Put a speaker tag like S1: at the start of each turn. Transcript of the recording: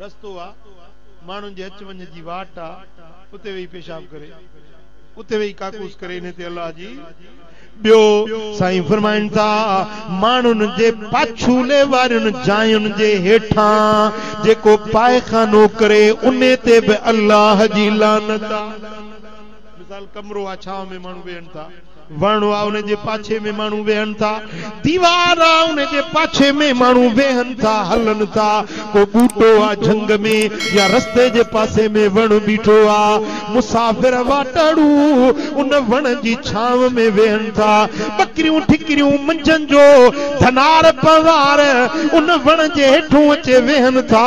S1: رستو آ، ماڻهن جي اچ وڃ جي واٽ آ، اتي ويهي پيشاب ڪري، اتي ويهي ڪاڪوس ڪري، انهي تي الله جي. ٻيو، سائين فرمائن ٿا، ماڻهن جي پاڇولي وارين جاين جي هيٺان جيڪو پائخانو ڪري، انهي تي به الله جي لعنت آ. مثال، ڪمرو آ، ڇانو ۾ ماڻهو ويهن ٿا. وڻ آ ان جي پاڇي ۾ ماڻهو ويهن ٿا، ديوار آ ان جي پاڇي ۾ ماڻهو ويهن ٿا، هلن ٿا، ڪو ٻوٽو آ جهنگ ۾ يا رستي جي پاسي ۾ وڻ بيٺو آ، مسافر واٽهڙو ان وڻ جي ڇانو ۾ ويهن ٿا، ٻڪريون ٺڪريون منجهن جو ڌنار پنوار ان وڻ جي هيٺون اچي ويهن ٿا،